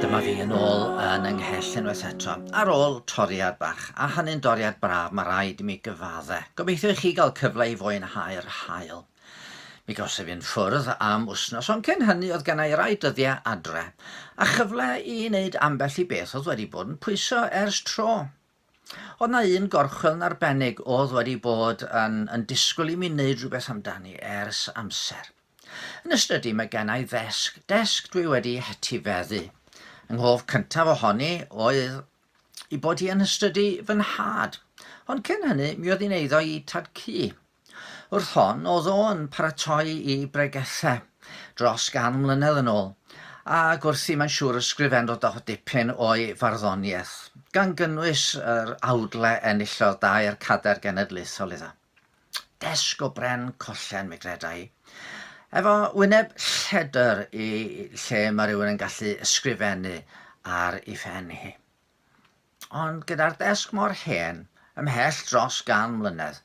Dyma fi yn ôl yn yng nghell unwaith eto, ar ôl toriad bach, a hynny'n doriad braf, mae rhaid i mi gyfadde. Gobeithio i chi gael cyfle i fwynhau'r haul. Mi gawsaf fi'n ffwrdd am wsnos, ond cyn hynny oedd gennau i rai dyddiau adre, a chyfle i wneud ambell i beth oedd wedi bod yn pwyso ers tro. Oedd 'na un gorchwyl yn arbennig oedd wedi bod yn, yn disgwyl i mi wneud rhywbeth amdani ers amser. Yn y stydi mae gennau ddesg, desg dwi wedi hetifeddu. Yng nghof cyntaf ohoni oedd i bod hi yn hystydu fy nhad. Ond cyn hynny, mi oedd hi'n eiddo i tad cu. Wrth hon, oedd o yn paratoi i bregethau dros gan mlynedd yn ôl, ac wrthi mae'n siŵr ysgrifennodd o dipyn o'i farddoniaeth, gan gynnwys yr awdle enillodd dair cadair genedlaethol iddo. Desg o bren collen, mi greda i. Efo wyneb lledr i lle mae rhywun yn gallu ysgrifennu ar ei phen hi. Ond gyda'r desg mor hen, ymhell dros gan mlynedd,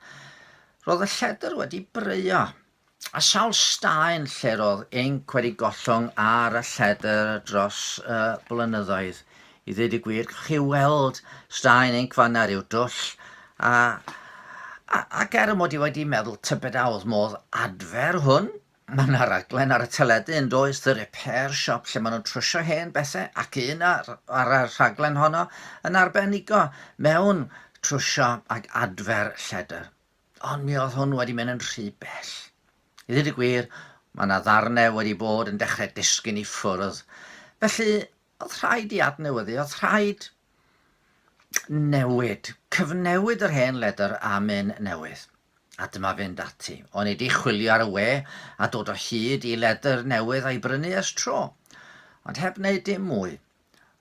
roedd y lledr wedi breuo, a sawl staen lle roedd inc wedi gollwng ar y lledr dros y blynyddoedd. I ddweud y gwir, gallwch chi weld staen inc fanna ryw dwll, a, a, ac er mod i wedi meddwl tybed a oedd modd adfer hwn, Mae yna raglen ar y teledu yn does, The Repair Shop, lle maen nhw'n trwsio hen bethau ac un ar, ar y rhaglen honno yn arbenigo mewn trwsio ac adfer lledr. Ond mi oedd hwn wedi mynd yn rhy bell. I ddweud y gwir, mae yna ddarnau wedi bod yn dechrau disgyn i ffwrdd. Felly, oedd rhaid i adnewyddu, oedd rhaid newid, cyfnewid yr hen ledr am un newydd. A dyma fynd ati. Onid i chwilio ar y we a dod o hyd i ledr newydd a'i brynu ers tro. Ond heb wneud dim mwy.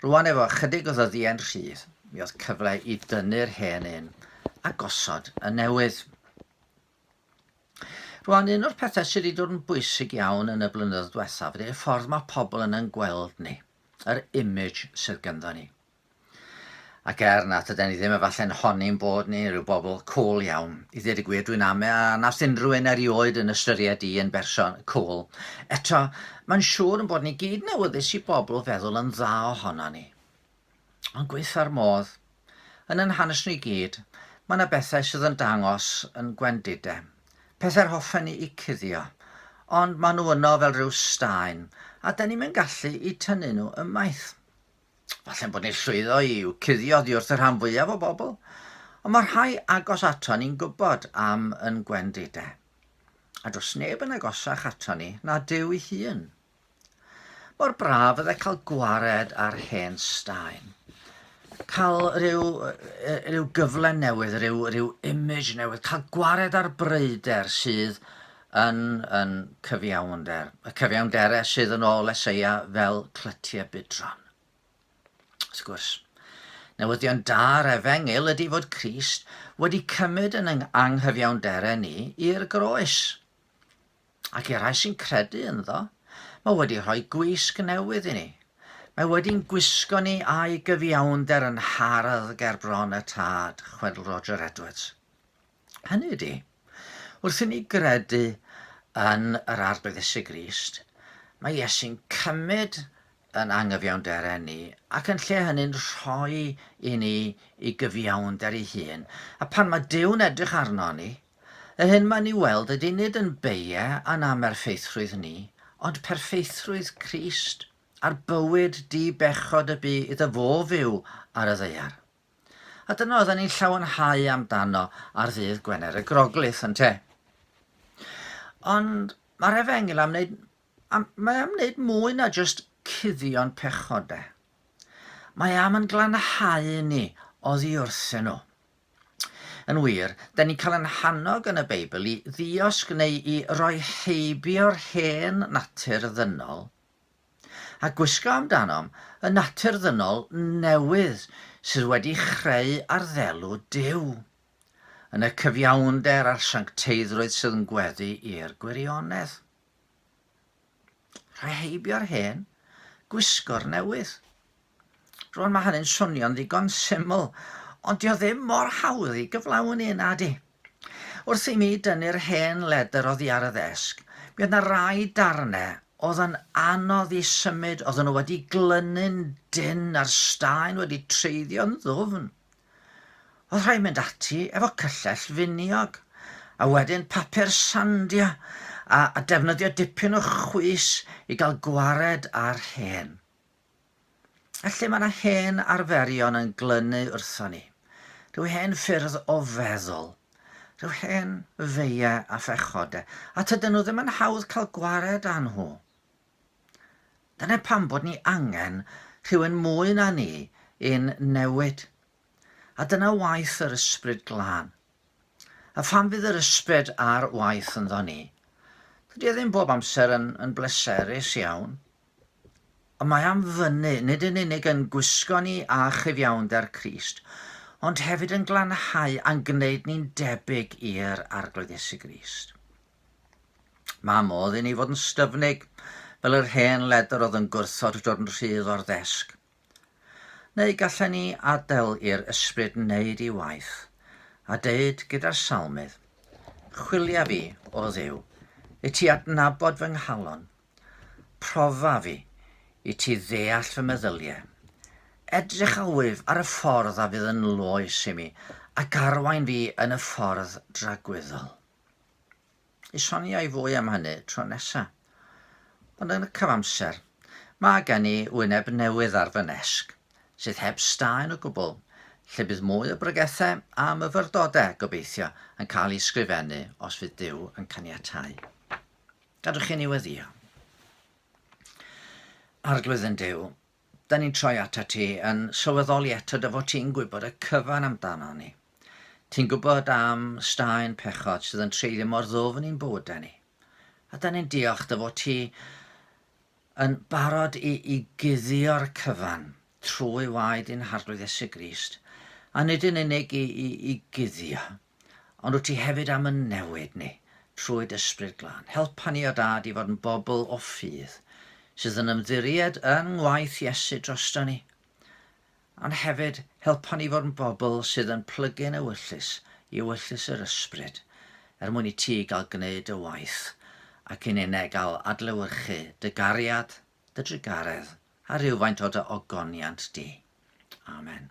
Rwan efo ychydig o ddyddiau'n rhydd, mi oedd cyfle i dynnu'r hen un a gosod y newydd. Rwan, un o'r pethau sydd wedi dod yn bwysig iawn yn y blynyddoedd diwethaf ydy'r ffordd mae pobl yn yn gweld ni, yr image sydd gynddo ni. Ac er na tyden ni ddim efalle'n honi'n bod ni rhyw bobl cwl iawn, i ddweud y gwir dwi'n ame a nath unrhyw un erioed yn ystyried i yn berson cwl. Eto, mae'n siŵr yn bod ni gyd newyddus i bobl feddwl yn dda ohonon ni. Ond gweitha'r modd. Yn yn hanes ni gyd, mae na bethau sydd yn dangos yn gwendide. Pethau'r hoffen ni i cuddio. Ond mae nhw yno fel rhyw staen, a 'den ni'm yn gallu i tynnu nhw ymaith. Falle'n bod ni'n llwyddo i i'w cuddio oddi wrth y rhan fwyaf o bobl, ond mae rhai agos ato ni'n gwybod am yn gwendide. A does neb yn agosach ato ni na Duw ei hun. Mor braf fydde cael gwared ar hen staen. Cael rhyw, rhyw gyfle newydd, rhyw, rhyw image newydd, cael gwared ar breider sydd yn yn cyfiawnder, y cyfiawnderau sydd yn ôl Eseia fel clytiau budron. Wrth gwrs, newyddion da'r efengyl ydy fod Crist wedi cymryd yn yng anghyfiawnderau ni i'r groes. Ac i'r rhai sy'n credu ynddo, mae wedi rhoi gwisg newydd i ni. Mae wedi'n gwisgo ni a'i gyfiawnder yn hardd ger bron y tad, chwedl Roger Edwards. Hynny ydy, wrth i ni gredu yn yr Arglwydd Iesu Grist, mae Iesu'n cymryd yn angyfiawnderen ni ac yn lle hynny'n rhoi i ni i gyfiawnder ei hun. A pan mae Duw'n edrych arno ni, y hyn mae'n ei weld ydy nid yn beie a'n amerffeithrwydd ni, ond perffeithrwydd Crist a'r bywyd di-bechod y bu iddo fo fyw ar y ddaear. A dyna oedden ni'n llawenhau amdano ar ddydd Gwener y Groglith, ynte? Ond mae'r efengyl am wneud, am, mae am wneud mwy na jyst cuddio'n pechodau. Mae am yn glanhau ni oddi wrthyn nhw. Yn wir, da ni'n cael yn hannog yn y Beibl i ddiosg neu i roi heibio'r hen natur ddynol a gwisgo amdanom y natur ddynol newydd sydd wedi chreu arddelu Duw, yn y cyfiawnder a'r siancteiddrwydd sydd yn gweddu i'r gwirionedd. Rheheibio'r hen, gwisgo'r newydd. Rwan mae hynny'n swnio'n ddigon syml, ond dio ddim mor hawdd i gyflawni na di. Wrth i mi dynnu'r hen ledr oddi ar y ddesg, mi oedd na rai darnau oedd yn anodd i symud, oedden nhw wedi glynu'n dyn a'r staen wedi treiddio'n ddwfn. Oedd rhaid mynd ati efo cyllell finiog, a wedyn papur sandio, a, a defnyddio dipyn o chwys i gael gwared ar hen. A lle mae yna hen arferion yn glynu wrthon ni, rhyw hen ffyrdd o feddwl, rhyw hen feiau a phechodau, a tydyn nhw ddim yn hawdd cael gwared â nhw. Dyna pam bod ni angen rhywun mwy na ni i'n newid A dyna waith yr Ysbryd Glân. A phan fydd yr Ysbryd ar waith ynddo ni, dydy e ddim bob amser yn, yn bleserus iawn. Ond mae am fynnu, nid yn unig yn gwisgo ni â chyfiawnder Crist, ond hefyd yn glanhau a'n gwneud ni'n debyg i'r Arglwydd Iesu Grist. Mae modd i ni fod yn styfnig, fel yr hen ledr oedd yn gwrthod dod yn rhydd o'r ddesg. Neu gallen ni adael i'r Ysbryd wneud ei waith, a deud gyda'r Salmydd, Chwilia fi, O Dduw, i ti adnabod fy nghalon, profa fi, i ti ddeall fy meddyliau. Edrych â wyf ar y ffordd a fydd yn loes i mi, ac arwain fi yn y ffordd dragwyddol. i sonio i fwy am hynny tro nesa. Ond yn y cyfamser, mae gen i wyneb newydd ar fy nesg, sydd heb staen o gwbl, lle bydd mwy o bregethau a myfyrdodau, gobeithio, yn cael eu sgrifennu os fydd Duw yn caniatáu. Gadwch i ni weddio. Arglwydd yn Duw, 'dan ni'n troi atat ti yn sylweddoli eto dy fod ti'n gwybod y cyfan amdanon ni. Ti'n gwybod am staen pechod sydd yn treiddio mor ddwfn i'n bywydau ni. A 'dan ni'n diolch dy fod ti yn barod i, i guddio'r cyfan trwy waed i'n harglwydd Esu Grist, a nid yn unig i, i, i guddio, Ond wyt ti hefyd am yn newid ni trwy d'ysbryd glân. Helpa ni, o Dad, i fod yn bobl o ffydd sydd yn ymddiried yn ngwaith Iesu drosto ni, ond hefyd helpa ni fod yn bobl sydd yn plygu'n ewyllus i ewyllus yr ysbryd, er mwyn i ti gael gwneud dy waith, ac i ni ne gael adlewyrchu dy gariad, dy drugaredd, a rhywfaint o dy ogoniant di. Amen.